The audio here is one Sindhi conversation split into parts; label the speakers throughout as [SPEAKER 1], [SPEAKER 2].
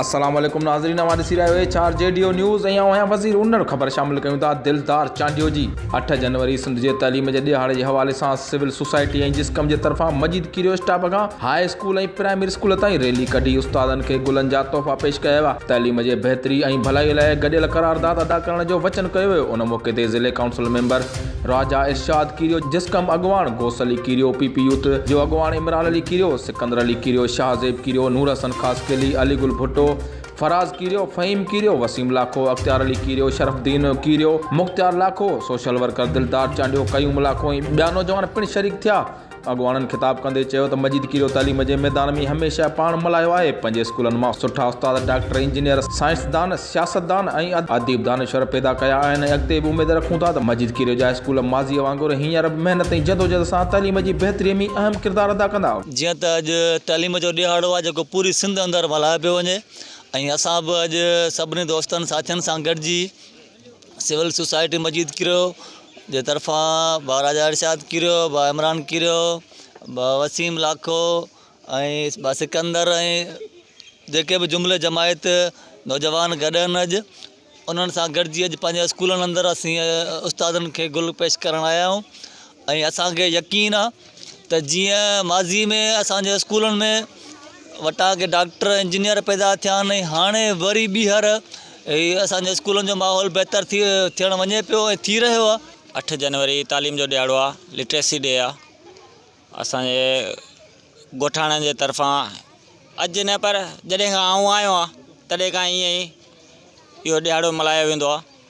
[SPEAKER 1] السلام عليڪم ناظرين اوهان ڏسي رهيا آهيو H R J D O news ۽ آئون آهيان وزير ان وٽ خبر شامل ڪيون ٿا دلدار چانڊيو جي اٺ جنوري سنڌ جي تعليم جي ڏهاڙي جي حوالي سان سول سوسائٽي ۽ جسقم جي طرفان مجيد ڪيريو اسٽاپ کان هاء اسڪول ۽ پرائمري اسڪول تائين ريلي ڪڍي استادن کي گلن جا تحفا پيش ڪيا ويا، تعليم جي بهتري ۽ ڀلائي لاء گڏيل قرارداد ادا ڪرڻ جو وچن ڪيو ويو، ان موقعي تي ضلعي ڪائونسل ميمبر راجا ارشاد ڪيريو، جسقم اڳواڻ Ghous Ali Kerio, P P youth جو اڳواڻ عمران علي ڪيريو، سڪندر علي ڪيريو، شاهه زيب ڪيريو، نور حسن خاصخيلي، علي گل ڀٽو، فراز ڪيريو، فهيم ڪيريو، وسيم لاکو، اختيار Ali Kerio, Sharafuddin Kerio, Mukhtiar Lakho, social worker Dildar Chandio, قيوم لاکو ۽ ٻيا نوجوان پڻ شريڪ ٿيا. اڳواڻن خطاب ڪندي چيو ته مجيد ڪيريو تعليم جي ميدان ۾ هميشه پاڻ ملهايو آهي، پنهنجي اسڪولن مان سٺا استاد، ڊاڪٽر، انجنيئر، سائنسدان، سياستدان ۽ اديب دانشور پيدا ڪيا آهن ۽ اڳتي به اميد رکون ٿا ته مجيد ڪيريو جا اسڪول ماضي وانگر هينئر به محنت ۽ جدوجهد سان تعليم جي بهتري ۾ اهم ڪردار ادا ڪندا. جيئن ته اڄ
[SPEAKER 2] تعليم جو ڏهاڙو آهي جيڪو پوري سنڌ اندر ملهايو پيو وڃي ۽ اسان به اڄ سڀني دوستن ساٿين سان گڏجي سول سوسائٽي مجيد ڪريو جي طرفان بابا راجا ارشاد ڪريو بابا عمران ڪريو بابا وسيم لاکو ۽ بابا سڪندر ۽ جيڪي به جملي جماعت نوجوان گڏ آهن اڄ انهن سان گڏجي اڄ پنهنجي اسڪولن اندر اسين استادن کي گل پيش ڪرڻ آيا آهيون ۽ اسان کي يقين آ ته جيئن ماضي ۾ اسان جي اسڪولن ۾ وٽاڪي ڊاڪٽر انجنيئر پيدا ٿيا آهن ۽ هاڻي وري ٻيهر اسان جي اسڪولن جو ماحول بهتر ٿي ٿيڻ وڃي پيو ۽ ٿي رهيو آ. اٺ جنوري
[SPEAKER 3] تعليم جو ڏيهاڙو آ لٽريسي ڊي آ اسان جي ڳوٺاڻن جي طرفان اڄ نه پر جڏهن کان آئون آيو آ تڏهن کان ائين ئي اهو ڏيهاڙو ملهايو ويندو آ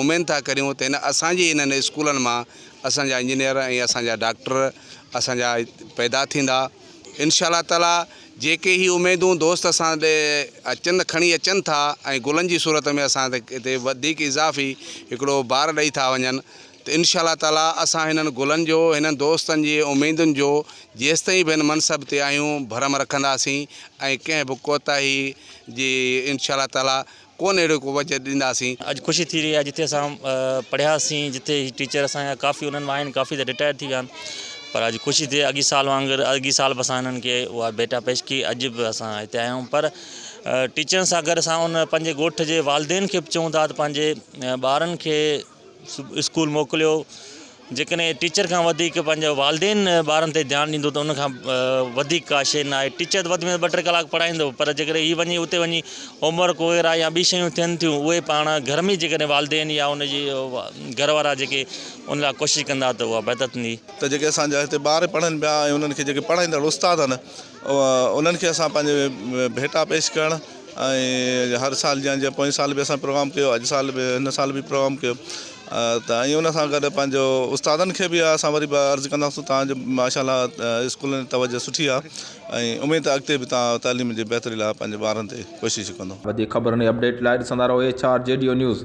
[SPEAKER 4] اميد ٿا ڪريون ته ان اسان جي انهن اسڪولن مان اسان جا انجنيئر ۽ اسان جا ڊاڪٽر اسان جا پيدا ٿيندا انشاء الله تعاليٰ جيڪي هي اميدون دوست اسان ڏي اچن کڻي اچن ٿا ۽ گلن جي صورت ۾ اسان تي وڌيڪ اضافي هڪڙو بار ڏئي ٿا وڃن ته انشاء الله تعاليٰ اسان هنن گلن جو هنن دوستن جي اميدن جو جيستائين به هن منصب تي آهيون ڀرم رکنداسين ۽ ڪنهن به ڪوتاهي جي انشاء الله تعاليٰ ڪونه اهڙو ڪو وجهه ڏينداسين. اڄ خوشي ٿي رهي آهي
[SPEAKER 5] جتي اسان پڙهياسين جتي هي ٽيچر اسان جا ڪافي انهن مان آهن ڪافي ته رٽائر ٿي ويا آهن پر اڄ خوشي ٿي اڳي سال وانگر اڳي سال به اسان هنن کي اها ڀيٽا پيش ڪئي اڄ به اسان هتي آيا آهيون پر ٽيچرن سان گڏ اسان ان پنهنجي ڳوٺ جي والدين کي به چئون ٿا ته پنهنجي ٻارن کي اسڪول موڪليو جيڪڏهن ٽيچر کان وڌيڪ پنهنجو والدين ٻارن تي ڌيان ڏيندو ته ان کان وڌيڪ ڪا شيء نه آهي ٽيچر وڌ ۾ وڌ ٻه ٽي ڪلاڪ پڙهائيندو پر جيڪڏهن هي وڃي اتي وڃي هومورڪ وغيره يا ٻي شيون ٿين ٿيون اهي پاڻ گهر ۾ جيڪڏهن والدين يا ان جي گهر وارا جيڪي ان لاء ڪوشش ڪندا ته اها بهتر ٿيندي ته جيڪي اسان جا هتي
[SPEAKER 6] ٻار پڙهن پيا ۽ انهن کي جيڪي پڙهائيندڙ استاد آهن انهن کي اسان پنهنجي ڀيٽا پيش ڪرڻ ۽ هر سال جيان جيئن پوئين سال به اسان پروگرام ڪيو اڄ سال به هن سال به پروگرام ڪيو ته ۽ ان سان گڏ پنهنجو استادن کي به اسان وري به عرض ڪنداسون تان جو ماشاء الله اسڪول جي توجه سٺي آ ۽ اميد ته اڳتي به تان تعليم جي بهتري لاء
[SPEAKER 1] پنهنجي
[SPEAKER 6] ٻارن
[SPEAKER 1] تي ڪوشش
[SPEAKER 6] ڪندو.
[SPEAKER 1] وڌيڪ
[SPEAKER 6] خبرن
[SPEAKER 1] ۽
[SPEAKER 6] اپڊيٽ
[SPEAKER 1] لاء
[SPEAKER 6] ڏسندا
[SPEAKER 1] رهو
[SPEAKER 6] H
[SPEAKER 1] R J
[SPEAKER 6] D O
[SPEAKER 1] news.